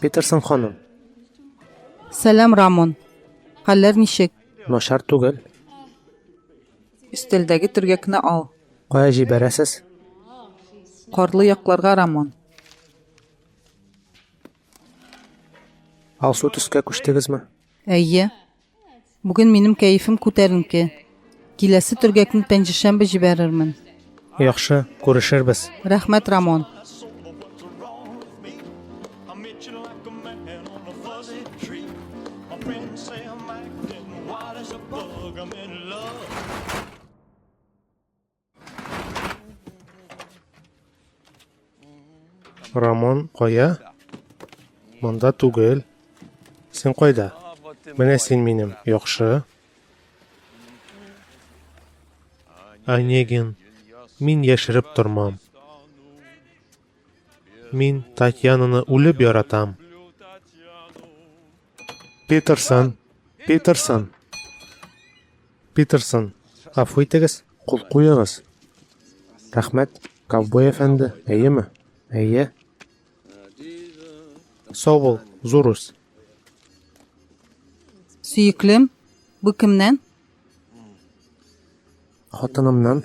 Питерсон ханым. Сәлам, Рамон. Хәлләр ничек? Начар түгел. Өстәлдәге төргәкне ал. Кая җибәрәсез? Карлы якларга, Рамон. Алсу төскә күчтегезме? Әйе. Бүген минем кәефем күтәренке. Киләсе төргәкне пәнҗешәмбе җибәрермен. Яхшы, күрешербез. Рәхмәт, Рамон. Рамон кая? Монда түгел. Син кайда? Менә син минем. Яхшы. Онегин, мин яшереп тормам. Мин Татьянаны үлеп яратам. Питерсон, Питерсон, Питерсон, гафу итегез, кул куегыз. Рәхмәт, ковбой әфәнде, әйеме? Әйе. Сау бул, зур үс. Сөеклем, бу кемнән? Хатынымнан.